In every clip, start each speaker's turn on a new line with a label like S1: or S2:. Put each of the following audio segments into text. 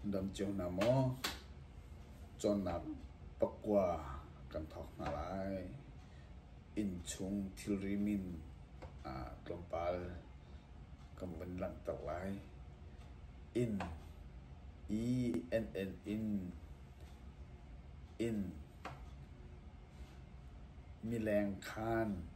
S1: Dam cio hna maw? Cawnnak pakua kan thawk hna lai. Innchung thilri min ah tlawmpal kan vun langhter lai. Inn, E-N-N in inn, mileng khan.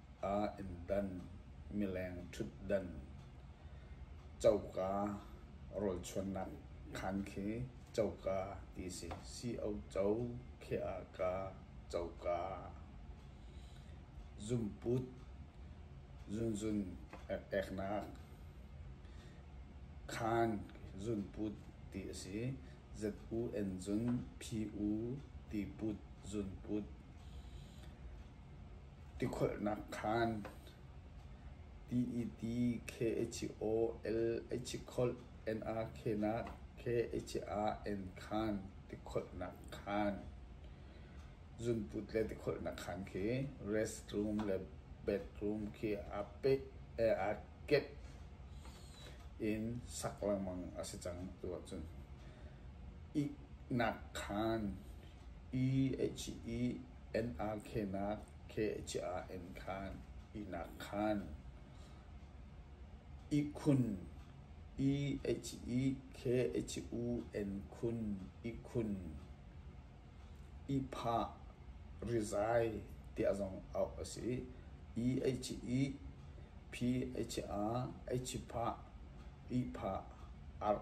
S1: ah in dan, mileng ṭhutdan, coka rawlchuannak khaan khi coka ti a si. Co khi ah ka, coka. Zumput, zunzun eknak, khaan zunput ti a si. Zu en zun, phi u ti put zunput. Tikholhnak khaan TET K O L Kholh NRK nak K Ah N khaan tikholhnak khaan zunput le tikholhnak khaan khi restroom le bedroom khi aa peh aa kenh in sak lengmang a si cang tu ahcun iknak khaan E H E Inn ah khenak khe cia in khan ihnak khan ihkhun khe cia u in khun ihkhun ihphah rizai tiah zong auh a si. Phi cia ihphah arh.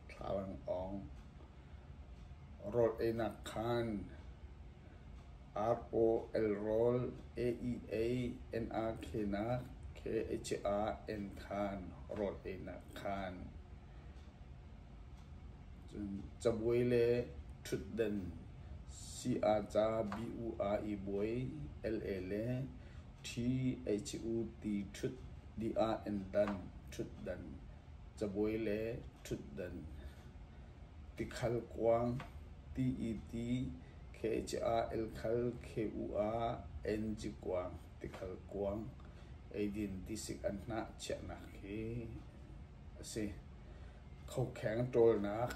S1: Thla an awng. Rawl einak khaan ROL rawl AEA NRK nak KHA en than rawl einak khaan. Cun cabuai le thutden si-a ca bu-a i buai LA le THU ti thut di-a en dan thutdan. cabuai le ṭhutdan, tikhal kuang, ti-i-ti, kha-ca, elkhal, khe-u ah, enzi kuang, tikhal kuang, eidin tisik an hnah chiahnak hi a si. Khokheng ṭawlnak.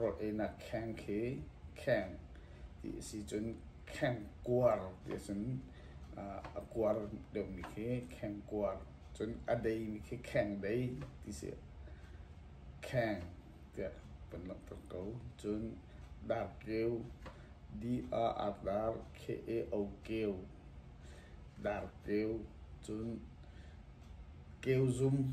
S1: Rawt einak kheng khi kheng ti a si cun kheng kuar ti ahcun a kuar deuhmi khi kheng kuar cun a deimi khi kheng dei ti si ah kheng tiah kan langhter ko. Cun darkeu D-R-R K-A-O-keu darkeu cun keu zum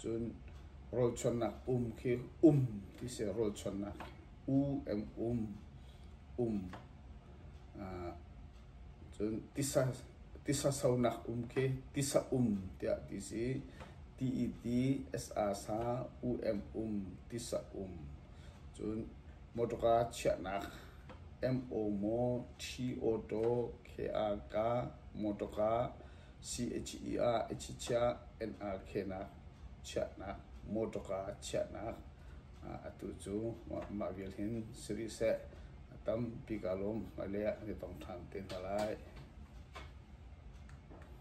S1: Cun rawlchuannak pum khi um ti si. Rawlchuannak u eng um, um. Cun tisa, tisa sonak um khi tisa um tiah ti si. T-E-T, S-A-sa, u eng um, tisa um. Cun motorka chiahnak M-O-Mo, T-Auto, K-A-K, motorka. CHE ah achichiah, NRK-nak chiahnak, motor car chiahnak atu cu mah vial hin si rih seh a tam bik ah lawm Malay ah kan i tong ṭhan te hna lai.